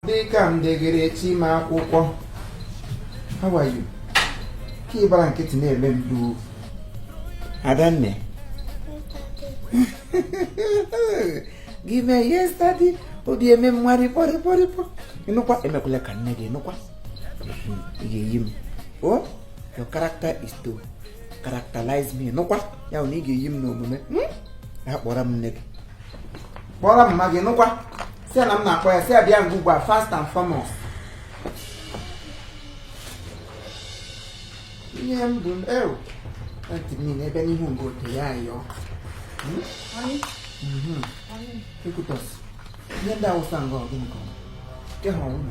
dịka m degere chima akwụkwọ how are you ka ị gbara nkịtị na-eme m duo adanne gị mee yesterday obi eme mmadụ kpọrịkpọrịkpọ ịnụkwa emekwala ka nne gị ịnụkwa hmm, ị ga-eyi m o oh, your character is to characterize me ịnụkwa ya bụ na ị ga-eyi m n'omume hmm? ya kpọrọ m nne gị kpọrọ m mma gị nụkwa sị ya na m na-akpọ ya sị ya bịa nga ugbu a first and foremost ihe m bụ ew ntị m niile ebe n'ihu mgbe ote ya ayọ ekwutọs ihe ndị awụsa nga ọgụ nke ọma nke ha ọnwụ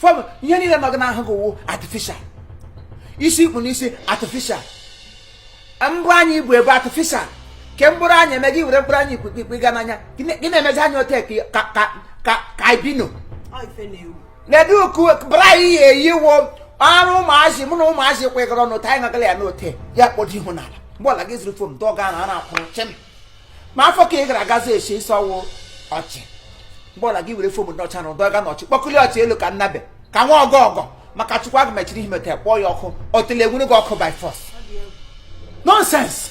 fọm ihe niile nọ gị n'ahụ gị wụ artificial isi i kpu n'isi artificial mbọ anya i bu ebe artificial ke mkpụrụ anya eme gị were mkpụrụ anya ikwikwi tiga n'anya gị na-emezi anya ote ka ka ka ka albino ledu oku bra ị ya-eyi wụ arụ ụmụazị mụ na ụmụazị kwekọrọ n'ote anyị gagala ya n'ote ya kpọdo ihu n'ala mgbe ọla gị zụrụ foam dọga ara na-akwụrụ chịm ma afọ ka ị gara agazi esi isi ọ wụ ọchị mgbe ọla gị were foam ndị ọcha na dọga na ọchị kpọkụli ọchị elu ka nnabe ka nwa ọgọ ọgọ maka chukwu aga mechiri ihe meta kpọọ ya ọkụ otele enwuru gị ọkụ by force nonsense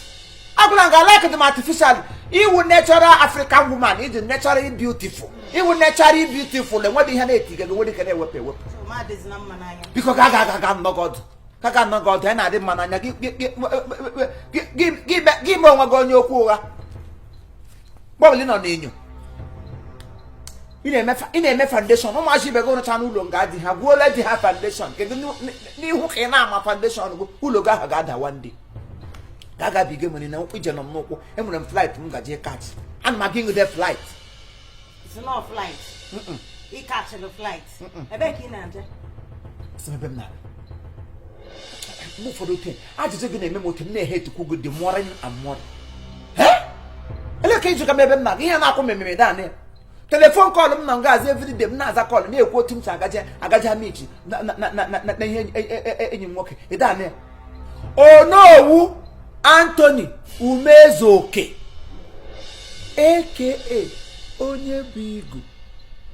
agwụla nga like them artificial ị wụ natural african woman ị dị natural beautiful ị wụ natural beautiful enweghị ihe na-etiga enweghị nke na-ewepụ ewepụ biko ga aga aga aga nọ gị ọdụ ka ka nọ gị ọdụ ya na-adị mma n'anya gị gị- gị- gị- gị- gị me- gị mee onwe gị onye okwu ụgha mgbe ọbụla ị nọ n'enyo ị na-eme fa- ị na-eme foundation ụmụazị ibe gị rụchana ụlọ nga di ha gwuola di ha foundation kedu n'ihu- n'ihu ka ị na-ama foundation gị ụlọ gị ahụ ga-ada one day ka a gabiga nwere na ije nọ m n'ụkwụ enwere m flight m gaje catch ana m aga inwude flight sị na flight ị catchịrị flight ebe ka ị na-aje sị ebe m na-abịa mgbe ụfọdụ oke ajụjụ gị na-eme m otu m na-e hate ukwu gị dị mụọrọ m amụọrọ ele ka ị jụga m ebe m na-aga ihe na-akwụ m ememe dan ya telephone call m na ngazi everyday m na-aza call na-ekwu otu m si agaje agaje amichi na ihe enyi m nwoke ịdan ya onowu anthony umezuoke aka onye bu igu